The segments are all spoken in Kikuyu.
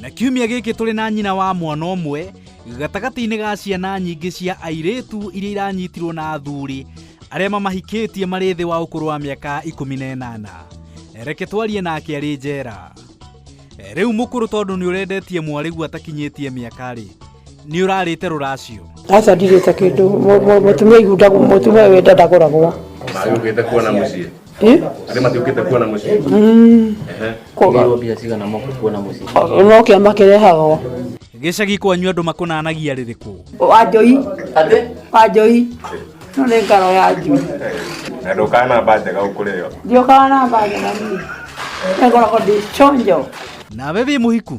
na kiumia gĩkĩ tũrĩ na nyina wa mwana ũmwe gatagatĩ-inĩ ga ciana nyingĩ cia airĩtu iria iranyitirwo na athuri arĩa mamahikĩtie marĩ thĩ wa ũkũrũ wa mĩaka ikũmi na ĩnana reke twarie nake arĩ njera rĩu mũkũrũ tondũ nĩ ũrendetie mwarĩgu atakinyĩtie mĩaka-rĩ nĩ ũrarĩte rũracio aca ndirĩte kĩndũ Mũ- mũ- mũtumia igundagwo mũtumia wenda ndagũragwo Magĩũkĩte kuona mũciĩ. Arĩ matiũkĩte kuona mũciĩ. Ehe. Kũgĩrwo mbia cigana moka kuona mũciĩ. no kĩama kĩrehagwo gĩcagi kwanyu andũ makũnanagia rĩrĩkũ wanjoi wanjoi no nĩ ngaro ya njui Na ndũkana mba njega ũkũrĩo. ndiokaga na mbaga na niĩ ngoragwo ndĩ chonjo nawe wĩ mũhiku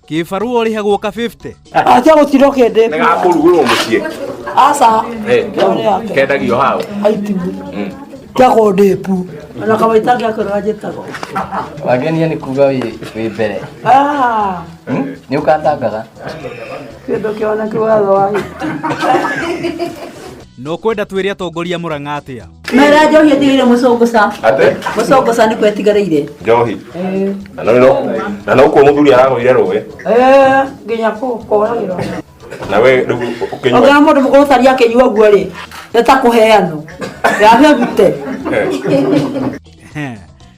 Kĩbarũa ũrĩhagwo ka 50. Acha gũtirwo kĩndĩ. Nĩ gakũrugũrwo mũciĩ. Aca. Eh, kendagio hau. Aitibu. Kĩa kũndĩpu. Ona kawaita gĩa kũrora njĩtagwo. Wangenia nĩ kuga wĩ wĩ mbere. Ah. Nĩ ũkandangaga. Kĩndũ kĩona kĩwatho wa no kwenda twĩre atongoria mũrang'a atĩa mera njohi ĩtigĩire mũcũngũca Ate? mũcũngũca nĩkuo ĩtigarĩire Njohi. Na no no. Na no kuo muthuri aragwire rũĩ. Eh, nginya kũhũkũragĩra Na we rĩu ũkĩnyua. ogira mũndũ mũkũrũ tari akĩnyua ũguo rĩ nĩ ta kũheanwo yame gute Ehe.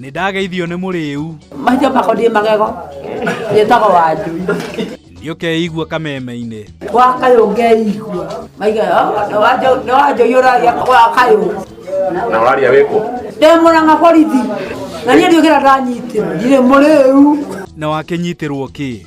Nĩ ndageithio nĩ mũrĩu. Macio makonie magego njĩtagwo wanjui. Nĩ ũkeigua kameme-inĩ. Wa kayũ ngeigua. Maiga nĩ wanjui ũraria wa kayũ. Na ũraria wĩkũ? Ndĩ mũrang'a borithi. Na niĩ ndiũkĩra ndanyitĩrwo. Ndirĩ mũrĩu. Na wakĩnyitĩrwo kĩ?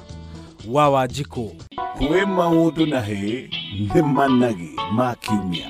wa wanjikũ kwĩ maũndũ na hĩ nĩ managi ma kiumia